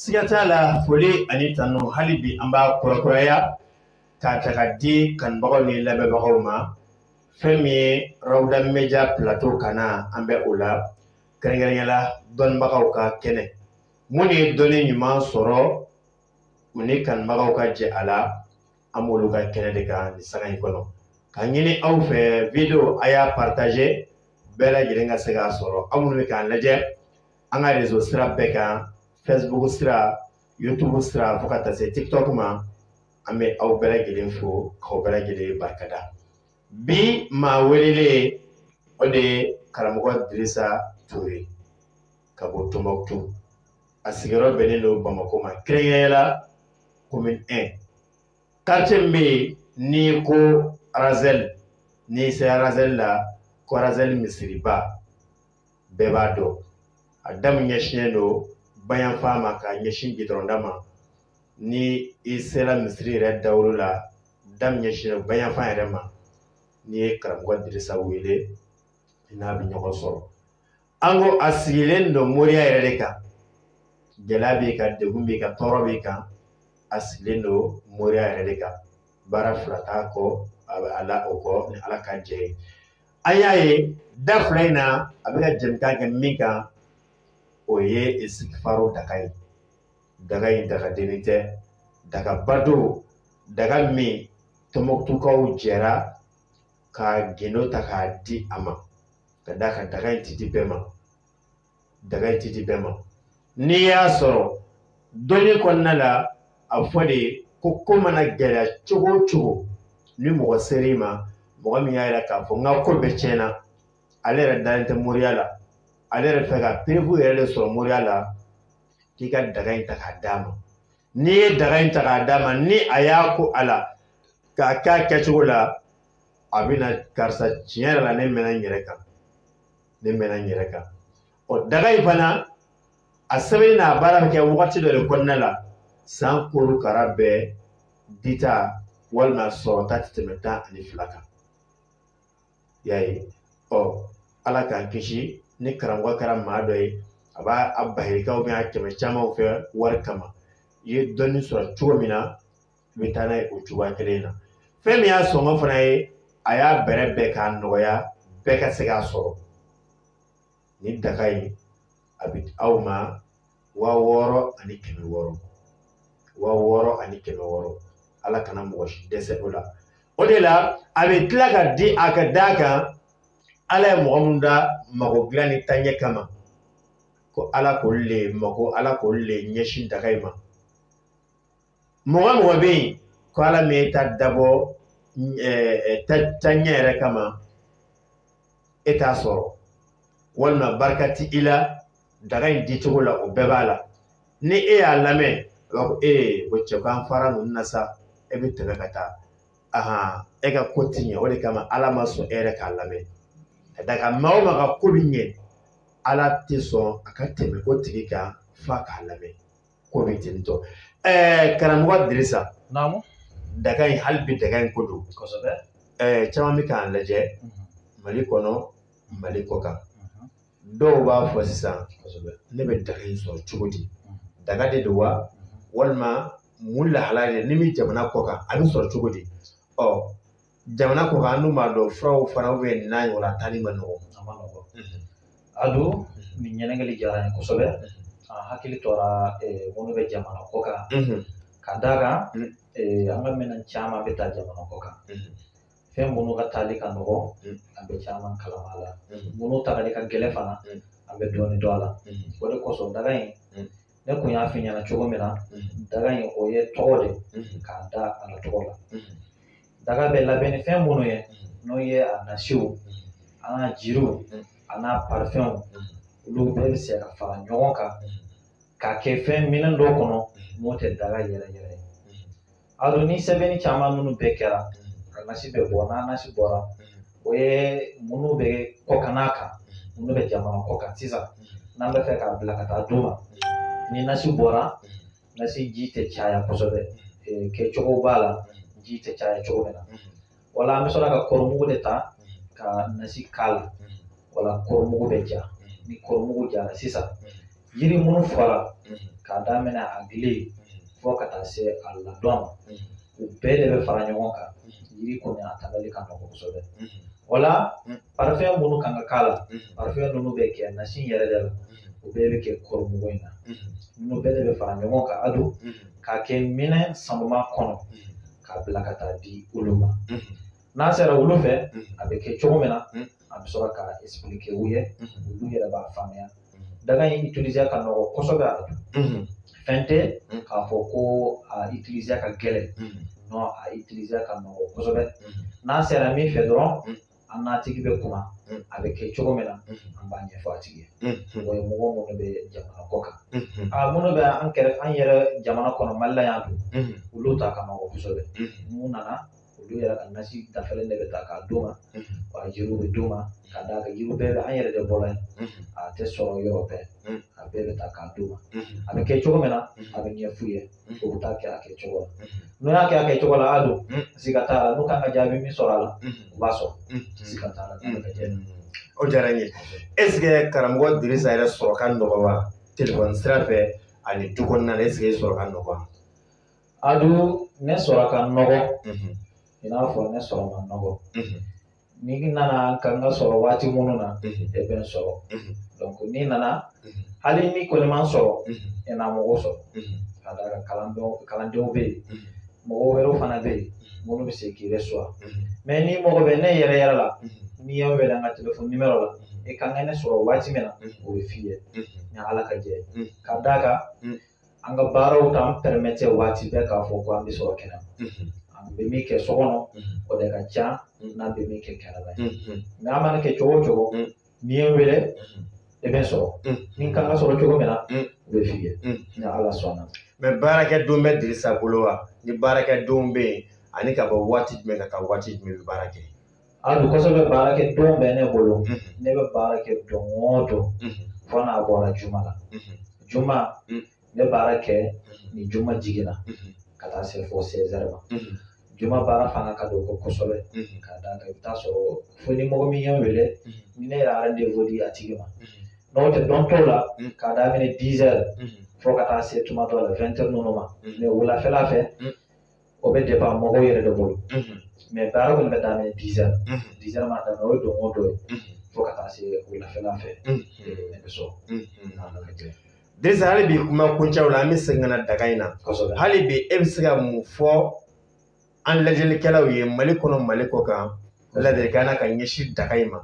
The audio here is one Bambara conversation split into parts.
siga t'a la foli ani tanu hali bi an b'a kurakuraya k'a ta k'a di kanubagaw ni lamɛnbagaw ma fɛn min ye rawuda media plateau kan na an bɛ o la kɛrɛnkɛrɛnya la dɔnnibagaw ka kɛnɛ minnu ye dɔnni ɲuman sɔrɔ u ni kanubagaw ka jɛ a la an b'olu ka kɛnɛ de kan nin sanga in kɔnɔ k'a ɲini aw fɛ video a y'a partager bɛɛ lajɛlen ka se k'a sɔrɔ aw minnu bɛ k'an lajɛ an ka rezo sira bɛɛ kan facebook sira youtube sira fo ka taa se tiktok ma an bɛ aw bɛɛ lajɛlen fo k'aw bɛɛ lajɛlen barikada bi maa welelen o de ye karamɔgɔ dirisa ture ka bɔ tombouctou a sigiyɔrɔ bɛnnen don bamakɔ ma kɛrɛnkɛrɛnya la commune 1 quartier min bɛ yen n'i ko arazɛli n'i sera arazɛli la ko arazɛli misiriba bɛɛ b'a dɔn a da min ɲɛsinnen don bayanfan ma k'a ɲɛsin gudɔrɔnda ma ni i sera misiri yɛrɛ dawolo la da min ɲɛsinnen don bayanfan yɛrɛ ma n'i ye karamɔgɔ dirisa wele i n'a bɛ ɲɔgɔn sɔrɔ an ko a sigilen don moriya yɛrɛ de kan gɛlɛya b'i kan degun b'i kan tɔɔrɔ b'i kan a sigilen don moriya yɛrɛ de kan baara fila t'a kɔ a bɛ ala o kɔ ni ala ka jɛ ye an y'a ye da fila in na a bɛ ka jɛmukan kɛ min kan o ye isitigifaru daga ye daga in daga dennin tɛ dagaba don daga min tɔmɔkutukaw jɛra ka gundo ta k'a di a ma ka d'a kan daga in tɛ di bɛɛ ma daga in tɛ di bɛɛ ma n'i y'a sɔrɔ dɔnni kɔnɔna la a fɔ de ko ko mana gɛlɛya cogo o cogo ni mɔgɔ ser'i ma mɔgɔ min y'a yira k'a fɔ n ka ko bɛɛ tiɲɛna ale yɛrɛ dalen tɛ moriya la ale yɛrɛ fɛ ka preuve yɛrɛ de sɔrɔ moriya la k'i ka daga in ta k'a d'a ma n'i ye daga in ta k'a d'a ma ni a y'a ko a la k'a k'a kɛcogo la a bɛna karisa tiɲɛ yɛrɛ la ne mɛnna n yɛrɛ kan ne mɛnna n yɛrɛ kan ɔ daga in fana a sɛbɛnni n'a baara bɛ kɛ wagati dɔ de kɔnɔna la san korokara bɛɛ dita walima sɔrɔta tɛ tɛmɛ tan ani fila kan i y'a ye ɔ ala k'an kisi ni karamɔgɔ kɛra maa dɔ ye a b'a a bahikaw bɛ a kɛmɛ camanw kɛ wari kama i ye dɔnni sɔrɔ cogo min na i bɛ taa n'a ye o cogoya kelen in na fɛn min y'a sɔngɔ fana ye a y'a bɛrɛbɛn k'a nɔgɔya bɛɛ ka se k'a sɔrɔ nin daga in a bɛ aw ma waa wɔɔrɔ ani kɛmɛ wɔɔrɔ waa wɔɔrɔ ani kɛmɛ wɔɔrɔ ala kana mɔgɔ si dɛsɛ o la o de la a bɛ tila ka di a ka d'a kan ala ye mɔgɔ min da mago dilan ni taaɲɛ kama ko ala k'olu le mako ala k'olu le ɲɛsin daga in ma mɔgɔ mɔgɔ bɛ yen ko ala ma e ta dabɔ taaɲɛ yɛrɛ kama e t'a sɔrɔ walima barika ti i la daga in di cogo la o bɛɛ b'a la ni e y'a lamɛn a b'a fɔ ee ko cɛ k'an fara ninnu na sa e bɛ tɛmɛ ka taa ahan e ka ko ti ɲɛ o de kama ala ma sɔn e yɛrɛ k'a lamɛn ka d'a kan maa o maa ka ko bi ɲɛ ala tɛ sɔn a ka tɛmɛ o tigi kan f'a k'a lamɛn ko bɛ ten tɔ ɛɛ karamɔgɔ dirisa naamu daga in hali bi daga in ko don kosɛbɛ ɛɛ caman bɛ k'an lajɛ mali kɔnɔ mali kɔ kan dɔw b'a fɔ sisan kosɛbɛ ne bɛ daga in sɔrɔ cogo di daga de don wa walima mun lahala de ni n bɛ jamana kɔ kan a bɛ sɔrɔ cogo di ɔ jamana kɔ kan an dun b'a dɔn furaw fana bɛ n'a ɲɔgɔnna taali man nɔgɔ a man nɔgɔ a don nin ɲininkali diyara n ye kosɛbɛ a hakili tora minnu bɛ jamana kɔ kan ka d'a kan an ka minɛn caman bɛ taa jamana kɔ kan fɛn minnu ka taali ka nɔgɔ an bɛ caman kalama a la minnu tagali ka gɛlɛn fana an bɛ dɔɔnin dɔn a la o de kosɔn daga in ne kun y'a f'i ɲɛna cogo min na daga in o ye tɔgɔ de k'a da a la tɔgɔ la daga bɛ labɛn ni fɛn minnu ye n'o ye a nasiw a n'a jiriw a n'a parifɛnw olu bɛɛ bɛ se ka fara ɲɔgɔn kan k'a kɛ fɛn minɛn dɔ kɔnɔ n'o tɛ daga yɛrɛ yɛrɛ ye Ado ni sɛbɛnni caman minnu bɛɛ kɛra a nasi bɛ bɔ n'a nasi bɔra o ye minnu bɛ kɔ kan n'a kan minnu bɛ jamana kɔ kan sisan n'an b'a fɛ k'a bila ka taa d'u ma ni nasi bɔra nasi ji tɛ caya kosɛbɛ kɛcogo b'a la ji tɛ caya cogo min na wala an bɛ sɔrɔ ka kɔɔrimugu de ta ka nasi k'a la wala kɔɔrimugu bɛ ja ni kɔɔrimugu jara sisan yiri minnu fɔra k'a daminɛ a gili fo ka taa se a ladɔn ma u bɛɛ de bɛ fara ɲɔgɔn kan yiri kɔni a tagali ka nɔgɔn kosɛbɛ wala parifɛn minnu kan ka k'a la parifɛn ninnu bɛ kɛ nasi yɛrɛ de la o bɛɛ bɛ kɛ kɔɔrimugu in na ninnu bɛɛ de bɛ fara ɲɔgɔn kan a don k'a kɛ minɛn sanuma kɔnɔ k'a bila ka taa di olu ma n'a sera olu fɛ a bɛ kɛ cogo min na a bɛ sɔrɔ k'a expliquer u ye olu yɛrɛ b'a faamuya daga in utiliser ka nɔgɔ kosɛbɛ a don fɛn tɛ k'a fɔ ko a utiliser ka gɛlɛn non a utiliser ka nɔgɔ kosɛbɛ n'a sera min fɛ dɔrɔn an n'a tigi bɛ kuma a bɛ kɛ cogo min na an b'a ɲɛfɔ a tigi ye o ye mɔgɔ minnu bɛ jamana kɔ kan a minnu bɛ an kɛrɛ an yɛrɛ jamana kɔnɔ mali la yan dun olu ta ka nɔgɔ kosɛbɛ n'u nana olu yɛrɛ ka nasi dafalen de bɛ ta k'a d'u ma wa jiriw bɛ d'u ma ka d'a kan jiriw bɛɛ bɛ an yɛrɛ de bolo yen a tɛ sɔrɔ yɔrɔ bɛɛ a bɛɛ bɛ ta k'a d'u ma a bɛ kɛ cogo min na a bɛ ɲɛf'u ye o bɛ taa kɛ a kɛ cogo la n'o y'a kɛ a kɛ cogo la a don siga t'a la n'o kan ka jaabi min sɔrɔ a la o b'a sɔrɔ siga t'a la o diyara n ye eseke karamɔgɔ dirisa yɛrɛ sɔrɔ ka nɔgɔ wa telefɔni sira fɛ ani du kɔnɔna na eseke sɔrɔ ka nɔgɔ wa a don ne sɔrɔ ka nɔgɔ i n'a fɔ ne sɔrɔ ka nɔgɔ n'i nana kan ka sɔrɔ waati minnu na e bɛ n sɔrɔ n'i nana hali ni n kɔni ma sɔrɔ e na mɔgɔ sɔrɔ ka d'a kan kalandenw kalandenw bɛ yen mɔgɔ wɛrɛw fana bɛ yen minnu bɛ se k'i yɛrɛ sɔrɔ mɛ n'i mago bɛ ne yɛrɛ yɛrɛ la n'i y'an wele an ka telefɔni nimero la e ka kan ka ne sɔrɔ waati min na o bɛ f'i ye ni ala ka jɛ ka d'a kan an ka baaraw t'an pɛrɛmɛtɛ waati bɛɛ k'a fɔ ko an bɛ sɔrɔ kɛnɛma an bɛ min kɛ so kɔnɔ o de ka ca n'an bɛ min kɛ kɛnɛma ye nka an mana kɛ cogo o cogo n'i ye wele i bɛ sɔrɔ n'i kan ka sɔrɔ cogo min na o bɛ f'i ye ni ala sɔnna mɛ baara kɛ don bɛ dirisa bolo wa ni baara kɛ don bɛ yen ani ka bɔ waati jumɛn ka taa waati jumɛn bɛ baara kɛ a don kosɛbɛ baara kɛ don bɛ ne bolo ne bɛ baara kɛ don o don fo n'a bɔra juma la juma ne baara kɛ ni juma jiginna ka taa se fo sɛzɛri ma juma baara fana ka dɔgɔ kosɛbɛ ka d'a kan i bɛ taa sɔrɔ fo ni mɔgɔ min y'a wele ni ne ye rendez-vous di a tigi ma n'o tɛ don tɔw la k'a daminɛ dizɛri fo ka taa se tuma dɔ la wɛntɛri ninnu ma mɛ wulafɛla fɛ o bɛ depan mɔgɔ yɛrɛ de bolo mɛ baara kɔni bɛ daminɛ dizɛri dizɛri ma daminɛ o ye don o don ye fo ka taa se wulafɛla fɛ ne bɛ sɔrɔ dirisa hali bi kuma kuncɛw la an bɛ segin ka na daga in na hali bi e bɛ se ka mun fɔ an lajɛlikɛlaw ye mali kɔnɔ mali kɔ kan ladilikan na ka ɲɛsin daga in ma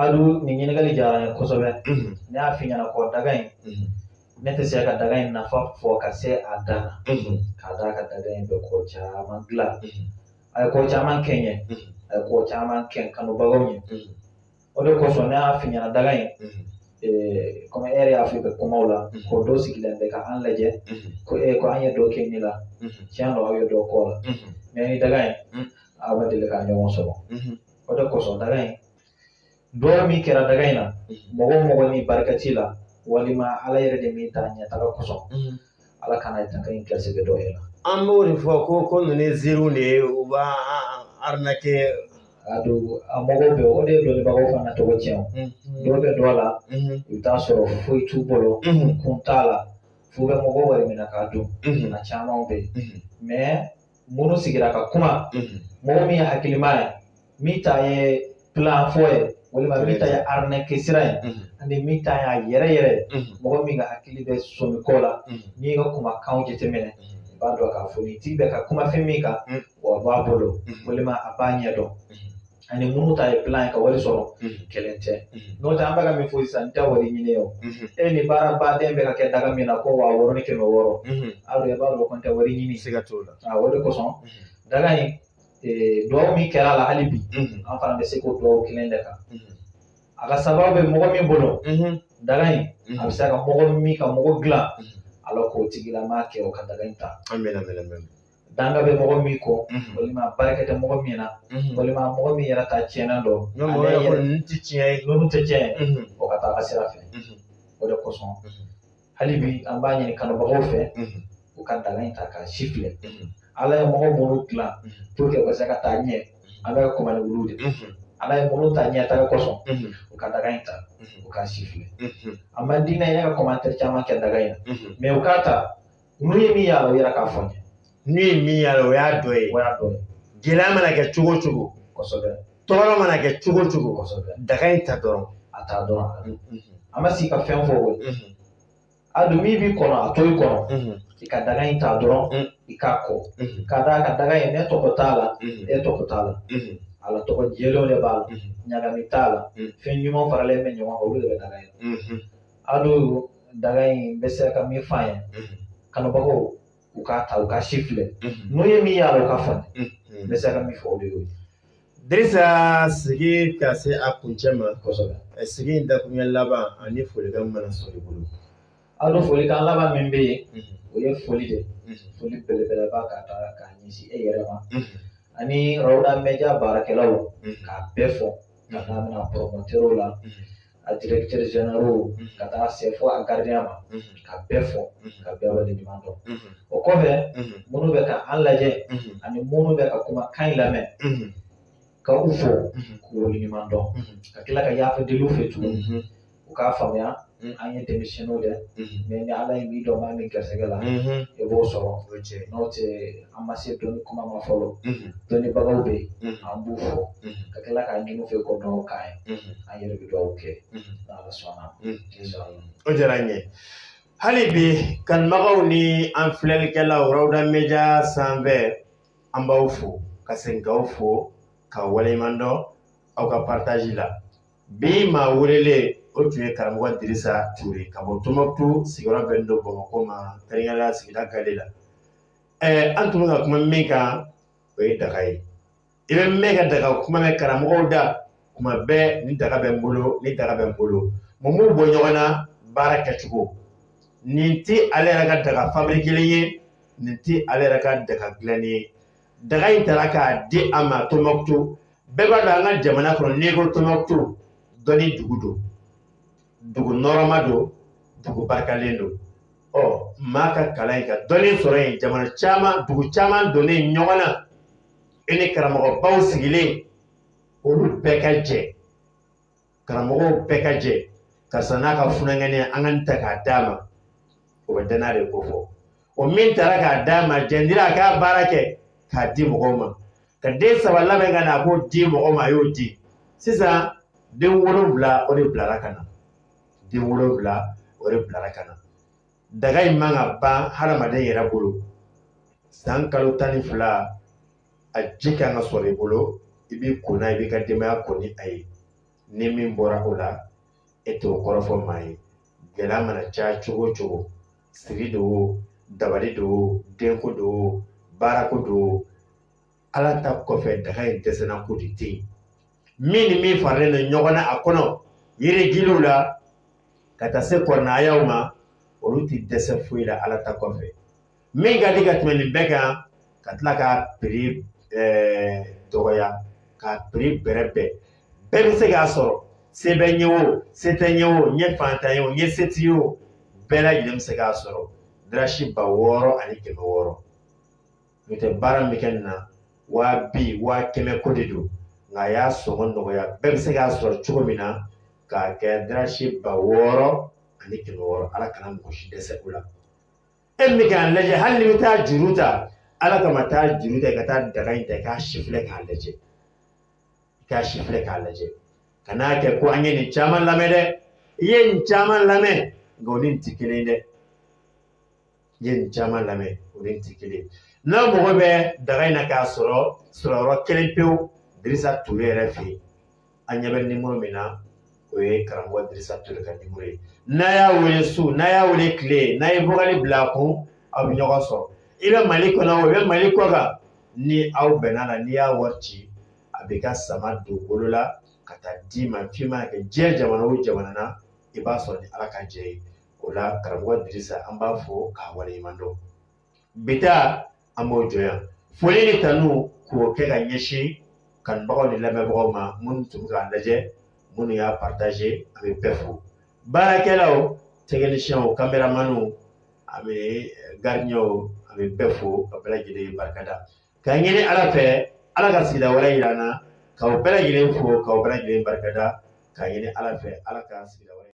Adu nin ɲininkali diyara n ye kosɛbɛ ne y'a f'i ɲɛna ko daga in ne tɛ se ka daga in nafa fɔ ka se a dan na k'a d'a kan daga in bɛ ko caman dilan a ye ko caman kɛ n ye a ye ko caman kɛ kanubagaw ye o de kosɔn ne y'a f'i ɲɛna daga in komi e yɛrɛ y'a fɔ i ka kumaw la ko dɔ sigilen bɛ ka an lajɛ ko e ko an ye dɔ kɛ nin la tiɲɛ don aw ye dɔ k'o la mɛ i ni daga in aw ma deli ka ɲɔgɔn sɔrɔ o de kosɔn daga in dugawu min kɛra daga in na mɔgɔ o mɔgɔ ni barika t'i la walima ala yɛrɛ de m'i ta ɲɛtaga kosɔn ala kana daga in garisigɛ dɔ yɛrɛ an b'o de fɔ ko ko ninnu ye ziiriw de ye u b'a arnaque a don a mɔgɔw bɛ o de ye dɔnnibagaw fana tɔgɔ tiɲɛ o dɔw bɛ don a la i bɛ t'a sɔrɔ foyi t'u bolo kun t'a la f'u bɛ mɔgɔw wari minɛ k'a dun a caman bɛ yen mɛ minnu sigira ka kuma mɔgɔ min ye hakilima ye min ta ye plan fɔ ye walima min ta ye arnaque sira ye ani min ta y'a yɛrɛ yɛrɛ mɔgɔ min ka hakili bɛ sɔmi ko la n'i ka kumakanw jateminɛ i b'a dɔn k'a fɔ nin tigi bɛ ka kuma fɛn min kan o b'a bolo walima a b'a ɲɛdɔn ani minnu ta ye plan ye ka wari sɔrɔ kelen tɛ n'o tɛ an bɛ ka min fɔ sisan n tɛ wari ɲini o ye nin baaraba de bɛ ka kɛ daga min na ko wa wɔɔrɔ ni kɛmɛ wɔɔrɔ aw yɛrɛ b'a dɔn ko n tɛ wari ɲini sika t'o la o de kosɔn daga in dugawu min kɛra a la hali bi an fana bɛ se k'o dugawu kelen de kɛ a ka sababu bɛ mɔgɔ min bolo daga in a bɛ se ka mɔgɔ min ka mɔgɔ dilan ala k'o tigilama kɛ o ka daga in ta danga bɛ mɔgɔ min kɔ walima barika tɛ mɔgɔ min na walima mɔgɔ min yɛrɛ ta tiɲɛna dɔ ale yɛrɛ ninnu tɛ tiɲɛ ye ninnu tɛ tiɲɛ o ka taa ka sira fɛ o de kosɔn hali bi an b'a ɲini kanubagaw fɛ u ka daga in ta k'a sifilɛ ala ye mɔgɔ minnu dilan pour que u ka se ka taa ɲɛ an bɛ kuma ni olu de ala ye minnu ta ɲɛtaga kosɔn u ka daga in ta u k'a sifilɛ a man di ne ye ne ka commentaire caman kɛ daga in na mɛ u k'a ta n'u ye min y'a la u yɛrɛ k'a fɔ n'u ye min y'a la o y'a dɔ ye o y'a dɔ ye gɛlɛya mana kɛ cogo o cogo kosɛbɛ tɔɔrɔ mana kɛ cogo o cogo kosɛbɛ daga in ta dɔrɔn a ta dɔrɔn an ma sigi ka fɛn fɔ o ye haju min b'i kɔnɔ a to i kɔnɔ i ka daga in ta dɔrɔn i k'a ko k'a d'a kan daga in ne tɔgɔ t'a la e tɔgɔ t'a la ala tɔgɔ jɛlenw de b'a la ɲagami t'a la fɛn ɲuman faralen bɛ ɲɔgɔn kan olu de bɛ daga in Ado daga in bɛ se ka min fɔ an ye kanubagaw u k'a ta u k'a sifilɛ n'u ye min y'a la u k'a fɔ an ye n bɛ se ka min fɔ o de y'o ye Dirisa sigi ka se a kuncɛ ma kosɛbɛ sigi in dakuruɲɛ laban ani folikan mana sɔrɔ i bolo Ado folikan laban min bɛ yen o ye foli de foli belebeleba ka taa k'a ɲɛsin e yɛrɛ ma ani Rawda Media baarakɛlaw k'a bɛɛ fo k'a daminɛ a promoteurs la a directeur général ka taa se fo a gardien ma ka bɛɛ fo ka bɛɛ waleɲuman dɔn o kɔfɛ minnu bɛ ka an lajɛ ani minnu bɛ ka kumakan in lamɛn ka u fo k'u waleɲuman dɔn ka tila ka yafa deli u fɛ tuguni u k'a faamuya an ye denmisɛnninw dɛ mais ni ala ye min don maa min garisigɛ la i b'o sɔrɔ n'o tɛ an ma se dɔnni kuma ma fɔlɔ dɔnnibagaw bɛ yen an b'u fo ka tila k'a ɲini u fɛ k'u duwaw k'an ye an yɛrɛ bɛ duwaw kɛ n'ala sɔnna o diyara n ye hali bi kanubagaw ni an filɛlikɛlaw Rawda Media sanfɛ an b'aw fo ka segin k'aw fo k'aw waleɲuman dɔn aw ka partage la bi maa welelen o tun ye karamɔgɔ Dirisa Ture ka bɔ Tombouctou sigiyɔrɔ bɛnnen don Bamakɔ ma kɛrɛnkɛrɛnnenya sigida Gale la an tun bɛ ka kuma min kan o ye daga ye i bɛ mɛn ka daga kuma mɛn karamɔgɔw da kuma bɛɛ nin daga bɛ n bolo nin daga bɛ n bolo mun b'u bɔ ɲɔgɔn na baara kɛcogo nin tɛ ale yɛrɛ ka daga fabirikelen ye nin tɛ ale yɛrɛ ka daga dilannen ye daga in tara k'a di a ma tɔnbɔkutu bɛɛ b'a dɔn an ka jamana kɔnɔ n'i ko tɔnbɔkutu dɔnni dugu don dugu nɔrɔma don dugu barikalen don ɔ maa ka kalan yen ka dɔnni sɔrɔ yen jamana caman dugu caman donnen ɲɔgɔn na e ni karamɔgɔbaw sigilen olu bɛɛ ka jɛ karamɔgɔw bɛɛ ka jɛ karisa n'a ka funankɛninya an ka nin ta k'a d'a ma o bɛ danaya de kofɔ o min tara k'a d'a ma jɛndira a k'a baara kɛ k'a di mɔgɔw ma k'a den saba labɛn ka na a k'o di mɔgɔ ma a y'o di sisan den wolonwula o de bilara ka na den wolonwula o de bilara ka na daga in man ka ban hadamaden yɛrɛ bolo san kalo tan ni fila a ji kan ka sɔrɔ i bolo i b'i ko n'a ye i b'i ka denbaya ko ni a ye ni min bɔra o la e t'o kɔrɔfɔ maa ye gɛlɛya mana caya cogo o cogo siri don dabali don denko don baarako don ala ta kɔfɛ daga in dɛsɛna ko de tɛ yen min ni min faralen don ɲɔgɔn na a kɔnɔ yirigiliw la ka taa se kuranɛ aayaw ma olu tɛ dɛsɛ foyi la ala ta kɔfɛ min ka di ka tɛmɛ nin bɛɛ kan ka tila k'a prix dɔgɔya k'a prix bɛrɛbɛn bɛɛ bɛ se k'a sɔrɔ se b'i ye o se t'i ye o i ye faantan ye o i ye setigi ye o bɛɛ lajɛlen bɛ se k'a sɔrɔ dirasi ba wɔɔrɔ ani kɛmɛ wɔɔrɔ n'o tɛ baara min bɛ kɛ nin na waa bi waa kɛmɛ ko de don nka a y'a sɔngɔ nɔgɔya bɛɛ bɛ se k'a sɔrɔ cogo min na k'a kɛ dirasi ba wɔɔrɔ ani kɛmɛ wɔɔrɔ ala kana mɔgɔ si dɛsɛ o la e min bɛ k'a lajɛ hali n'i bɛ taa juru ta ala kama taa juru ta i ka taa daga in ta i k'a sifilɛ k'a lajɛ i k'a sifilɛ k'a lajɛ kan'a kɛ ko an ye nin caman lamɛn dɛ i ye nin caman lamɛn nka o ni nin tɛ kelen ye dɛ i ye nin caman lamɛn o ni nin tɛ kelen ye n'a mago bɛ daga in na k'a sɔrɔ sɔrɔyɔrɔ kelen pewu dirisa tole yɛrɛ fɛ yen an ɲɛ bɛ nimoro min na o ye karamɔgɔ dirisa tole ka nimoro ye n'a y'a wele su n'a y'a wele tile n'a ye vokali bila a kun aw bɛ ɲɔgɔn sɔrɔ i bɛ mali kɔnɔ i bɛ mali kɔ kan ni aw bɛnna a la n'i y'a wari ci a b'i ka sama don bolo la ka taa d'i ma f'i ma kɛ diɲɛ jamana o jamana na i b'a sɔrɔ ni ala ka jɛ ye o la karamɔgɔ dirisa an b'a fo k'a waleɲuman dɔn bi ta an b'o jɔ yan foli ni kanu k'o kɛ ka ɲɛsin kanubagaw ni lamɛnbagaw ma minnu tun bɛ k'a lajɛ minnu y'a partaze an bɛ bɛɛ fo baarakɛlaw tɛkinisiyɛnw kameramaniw an bɛ garidiɲɛw an bɛ bɛɛ fo ka bɛɛ lajɛlen barika da ka ɲini ala fɛ ala ka sigida wɛrɛ yira an na k'aw bɛɛ lajɛlen fo k'aw bɛɛ lajɛlen barika da ka ɲini ala fɛ ala ka sigida wɛrɛ